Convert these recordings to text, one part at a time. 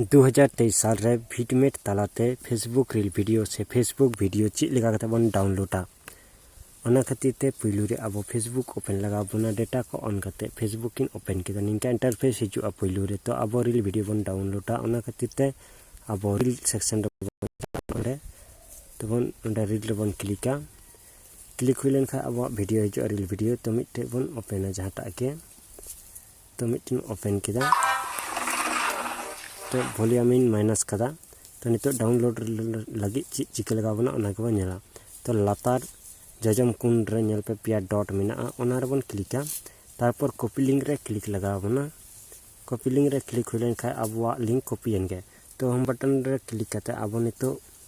2023 ᱥᱟᱞ ᱨᱮ ᱵᱷᱤᱴᱢᱮᱴ ᱛᱟᱞᱟᱛᱮ ᱯᱷᱮᱥᱵᱩᱠ ᱨᱤᱞ ᱵᱷᱤᱰᱤᱭᱳ ᱥᱮ ᱯᱷᱮᱥᱵᱩᱠ ᱵᱷᱤᱰᱤᱭᱳ ᱪᱮᱫ ᱞᱮᱠᱟ ᱠᱟᱛᱮ ᱵᱚᱱ ᱰᱟᱣᱩᱱᱞᱳᱰᱟ ᱚᱱᱟ ᱠᱷᱟᱹᱛᱤᱨ ᱛᱮ ᱯᱩᱭᱞᱩ ᱨᱮ ᱟᱵᱚ ᱯᱷᱮᱥᱵᱩᱠ ᱳᱯᱮᱱ ᱞᱟᱜᱟᱣ ᱵᱚᱱᱟ ᱰᱮᱴᱟ ᱠᱚ ᱚᱱ ᱠᱟᱛᱮ ᱯᱷᱮᱥᱵᱩᱠ ᱤᱧ ᱳᱯᱮᱱ ᱠᱮᱫᱟ ᱱᱤᱝᱠᱟ ᱤᱱᱴᱟᱨᱯᱷᱮᱥ ᱦᱤᱡᱩᱜᱼᱟ ᱯᱩᱭᱞᱩ ᱨᱮ ᱛᱚ ᱟᱵᱚ ᱨᱤᱞ ᱵᱷᱤᱰᱤᱭᱳ ᱵᱚᱱ ᱰᱟᱣᱩᱱᱞᱳᱰᱟ ᱚᱱᱟ ᱠᱷᱟᱹᱛᱤᱨ ᱛᱮ ᱟᱵᱚ ᱨᱤᱞ ᱥᱮᱠᱥᱚᱱ ᱨᱮ ᱚᱸᱰᱮ ᱛᱮᱵᱚᱱ ᱚᱸᱰᱮ ᱨᱤᱞ ᱨᱮᱵᱚᱱ ᱠᱞᱤᱠᱟ ᱠᱞᱤᱠ ᱦᱩᱭ ᱞᱮᱱᱠᱷᱟᱱ ᱟᱵᱚᱣᱟᱜ ᱵᱷᱤᱰᱤᱭᱳ ᱦᱤᱡᱩᱜᱼᱟ ᱨᱤᱞ ᱵᱷᱤᱰᱤᱭᱳ ᱛᱚ ᱢᱤᱫᱴᱮᱡ ᱵᱚᱱ ᱳᱯᱮᱱᱟ ᱡᱟᱦᱟᱸᱴᱟᱜ ᱜᱮ ᱛᱚ ᱢᱤᱫᱴᱮᱱ ᱳᱯᱮᱱ ᱠᱮᱫᱟ ᱛᱚ ᱵᱷᱚᱞᱤᱭᱟᱢᱤᱧ ᱢᱟᱭᱱᱟᱥ ᱠᱟᱫᱟ ᱛᱚ ᱱᱤᱛᱚᱜ ᱰᱟᱣᱩᱱᱞᱳᱰ ᱞᱟᱹᱜᱤᱫ ᱪᱮᱫ ᱪᱤᱠᱟᱹ ᱞᱟᱜᱟᱣ ᱵᱚᱱᱟ ᱚᱱᱟ ᱜᱮᱵᱚᱱ ᱧᱮᱞᱟ ᱛᱚ ᱞᱟᱛᱟᱨ ᱡᱚᱡᱚᱢ ᱠᱩᱱ ᱨᱮ ᱧᱮᱞ ᱯᱮ ᱯᱮᱭᱟ ᱰᱚᱴ ᱢᱮᱱᱟᱜᱼᱟ ᱚᱱᱟ ᱨᱮᱵᱚᱱ ᱠᱞᱤᱠᱟ ᱛᱟᱨᱯᱚᱨ ᱠᱚᱯᱤ ᱞᱤᱝᱠ ᱨᱮ ᱠᱞᱤᱠ ᱞᱟᱜᱟᱣ ᱵᱚᱱᱟ ᱠᱚᱯᱤ ᱞᱤᱝᱠ ᱨᱮ ᱠᱞᱤᱠ ᱦᱩᱭ ᱞᱮᱱᱠᱷᱟᱱ ᱟᱵᱚᱣᱟᱜ ᱞᱤᱝᱠ ᱠᱚᱯᱤᱭᱮᱱ ᱜᱮ ᱛᱚ ᱦᱳᱢ ᱵᱟᱴᱚᱱ ᱨᱮ ᱠᱞᱤᱠ ᱠᱟᱛᱮᱫ ᱟᱵᱚ ᱱᱤᱛᱚᱜ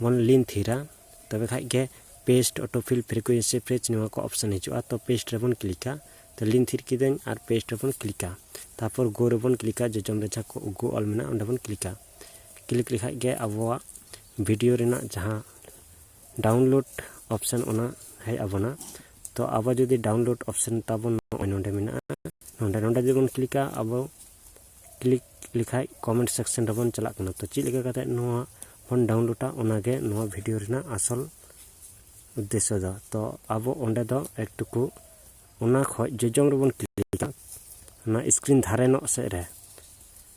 ᱢᱚᱱ ᱞᱤᱧ ᱛᱷᱤᱨᱟ ᱛᱚᱵᱮ ᱠᱷᱟᱡ ᱜᱮ ᱯᱮᱥᱴ ᱚᱴᱳᱯᱷᱤᱞ ᱯᱷᱨᱤᱠᱩᱭᱮᱱᱥᱤ ᱯᱷᱨᱮᱡᱽ ᱱᱚᱣᱟ ᱠᱚ ᱚᱯᱥᱚᱱ ᱦᱤᱡᱩᱜᱼᱟ ᱛᱚ ᱯᱮᱥᱴ ᱨᱮᱵᱚᱱ ᱠᱞᱤᱠᱟ ᱛᱚ ᱞᱤᱧ ᱛᱷᱤᱨ ᱠᱤᱫᱟᱹᱧ ᱟᱨ ᱯᱮᱥᱴ ᱨᱮᱵᱚᱱ ᱠᱞᱤᱠᱟ ᱛᱟᱨᱯᱚᱨ ᱜᱳ ᱨᱮᱵᱚᱱ ᱠᱞᱤᱠᱟ ᱡᱚᱡᱚᱢ ᱨᱮ ᱡᱟᱦᱟᱸ ᱠᱚ ᱜᱳ ᱚᱞ ᱢᱮᱱᱟᱜᱼᱟ ᱚᱸᱰᱮ ᱵᱚᱱ ᱠᱞᱤᱠᱟ ᱠᱞᱤᱠ ᱞᱮᱠᱷᱟᱡ ᱜᱮ ᱟᱵᱚᱣᱟᱜ ᱵᱷᱤᱰᱤᱭᱳ ᱨᱮᱱᱟᱜ ᱡᱟᱦᱟᱸ ᱰᱟᱣᱩᱱᱞᱳᱰ ᱚᱯᱥᱚᱱ ᱚᱱᱟ ᱦᱮᱡ ᱟᱵᱚᱱᱟ ᱛᱚ ᱟᱵᱚ ᱡᱩᱫᱤ ᱰᱟᱣᱩᱱᱞᱳᱰ ᱚᱯᱥᱚᱱ ᱛᱟᱵᱚᱱ ᱱᱚᱜᱼᱚᱭ ᱱᱚᱸᱰᱮ ᱢᱮᱱᱟᱜᱼᱟ ᱱᱚᱸᱰᱮ ᱱᱚᱸᱰᱮ ᱡᱩᱫᱤ ᱵᱚᱱ ᱠᱞᱤᱠᱟ ᱟᱵᱚ ᱠᱞᱤᱠ ᱞᱮᱠᱷᱟᱡ ᱠᱚᱢᱮᱱᱴ ᱥᱮᱠᱥᱮᱱ ᱨᱮᱵᱚᱱ ᱪᱟᱞᱟᱜ ᱠᱟᱱᱟ ᱛᱚ ᱪᱮᱫ ᱞᱮᱠᱟ ᱠᱟᱛᱮ ᱱᱚᱣᱟ ᱵᱚᱱ ᱰᱟᱣᱩᱱᱞᱳᱰᱟ ᱚᱱᱟᱜᱮ ᱱᱚᱣᱟ ᱵᱷᱤᱰᱤᱭᱳ ᱨᱮᱱᱟᱜ ᱟᱥᱚᱞ ᱩᱫᱽᱫᱮᱥᱥᱚ ᱫᱚ ᱛᱚ ᱟᱵᱚ ᱚᱸᱰᱮ ᱫᱚ ᱮᱠᱴᱩᱠᱩ ᱚᱱᱟ ᱠᱷᱚᱡ ᱡᱚᱡᱚᱢ ᱨᱮᱵᱚᱱ ᱠᱞᱤᱠᱟ ᱚᱱᱟ ᱥᱠᱨᱤᱱ ᱫᱷᱟᱨᱮ ᱱᱚᱜ ᱥᱮᱫ ᱨᱮ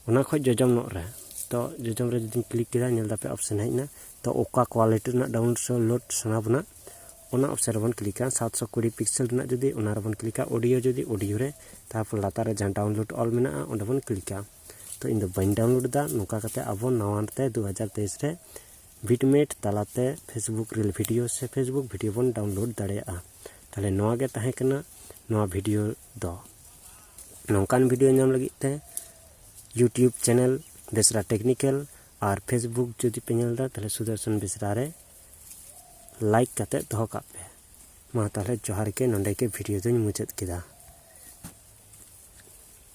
ᱚᱱᱟ ᱠᱷᱚᱡ ᱡᱚᱡᱚᱢ ᱱᱚᱜ ᱨᱮ ᱛᱚ ᱡᱚᱡᱚᱢ ᱨᱮ ᱡᱩᱫᱤᱧ ᱠᱞᱤᱠ ᱠᱮᱫᱟ ᱧᱮᱞ ᱫᱟᱯᱮ ᱚᱯᱥᱮᱱ ᱦᱮᱡ ᱮᱱᱟ ᱛᱚ ᱚᱠᱟ ᱠᱳᱣᱟᱞᱤᱴᱤ ᱨᱮᱱᱟᱜ ᱰᱟᱣᱩᱱᱞᱳᱰ ᱥᱟᱱᱟ ᱵᱚᱱᱟ ᱚᱱᱟ ᱚᱯᱥᱮᱱ ᱨᱮᱵᱚᱱ ᱠᱞᱤᱠᱟ ᱥᱟᱛᱥᱚ ᱠᱩᱲᱤ ᱯᱤᱠᱥᱮᱞ ᱨᱮᱱᱟᱜ ᱡᱩᱫᱤ ᱚᱱᱟ ᱨᱮᱵᱚᱱ ᱠᱞᱤᱠᱟ ᱚᱰᱤᱭᱳ ᱡᱩᱫᱤ ᱚᱰᱤᱭᱳ ᱨᱮ ᱛᱟᱨᱯᱚᱨ ᱞᱟᱛᱟᱨ ᱨᱮ ᱡᱟᱦᱟᱸ ᱰᱟᱣᱩᱱᱞᱳᱰ ᱚᱞ ᱢᱮᱱᱟᱜᱼᱟ ᱚᱸᱰᱮ ᱵᱚᱱ ᱠᱞᱤᱠᱟ ᱛᱚ ᱤᱧ ᱫᱚ ᱵᱟᱹᱧ ᱰᱟᱣᱩᱱᱞᱳᱰ ᱮᱫᱟ ᱱᱚᱝᱠᱟ ᱠᱟᱛᱮ ᱟᱵᱚ ᱱᱟᱣᱟ ᱛᱮ ᱫᱩ ᱦᱟᱡᱟᱨ ᱛᱮᱭᱤᱥ ᱨᱮ ᱵᱤᱴᱢᱮᱴ ᱛᱟᱞᱟᱛᱮ ᱯᱷᱮᱥᱵᱩᱠ ᱨᱤᱞ ᱵᱷᱤᱰᱤᱭᱳ ᱥᱮ ᱯᱷᱮᱥᱵᱩᱠ ᱵᱷᱤᱰᱤᱭᱳ ᱵᱚᱱ ᱰᱟᱣᱩᱱᱞᱳᱰ ᱫᱟᱲᱮᱭᱟᱜᱼᱟ ᱛᱟᱦᱚᱞᱮ ᱱᱚᱣᱟ ᱜᱮ ᱛᱟᱦᱮᱸ ᱠᱟᱱᱟ ᱱᱚᱣᱟ ᱵᱷᱤᱰᱤᱭᱳ ᱫᱚ ᱱᱚᱝᱠᱟᱱ ᱵᱷᱤᱰᱤᱭᱳ ᱧᱟᱢ ᱞᱟᱹᱜᱤᱫ ᱛᱮ ᱤᱭᱩᱴᱤᱭᱩᱵᱽ ᱪᱮᱱᱮᱞ ᱵᱮᱥᱨᱟ ᱴᱮᱠᱱᱤᱠᱮᱞ ᱟᱨ ᱯᱷᱮᱥᱵᱩᱠ ᱡᱩᱫᱤ ᱯᱮ ᱧᱮᱞ ᱮᱫᱟ ᱛᱟᱦᱚᱞᱮ ᱥᱩᱫᱚᱨᱥᱚᱱ ᱵᱮᱥᱨᱟ ᱨᱮ ᱞᱟᱭᱤᱠ ᱠᱟᱛᱮ ᱫᱚᱦᱚ ᱠᱟᱜ ᱯᱮ ᱢᱟ ᱛᱟᱦᱚᱞᱮ ᱡᱚᱦᱟᱨ ᱜᱮ ᱱᱚᱸᱰᱮ ᱜᱮ ᱵᱷᱤᱰᱤᱭᱳ ᱫᱚᱧ ᱢᱩᱪᱟᱹᱫ ᱠᱮᱫᱟ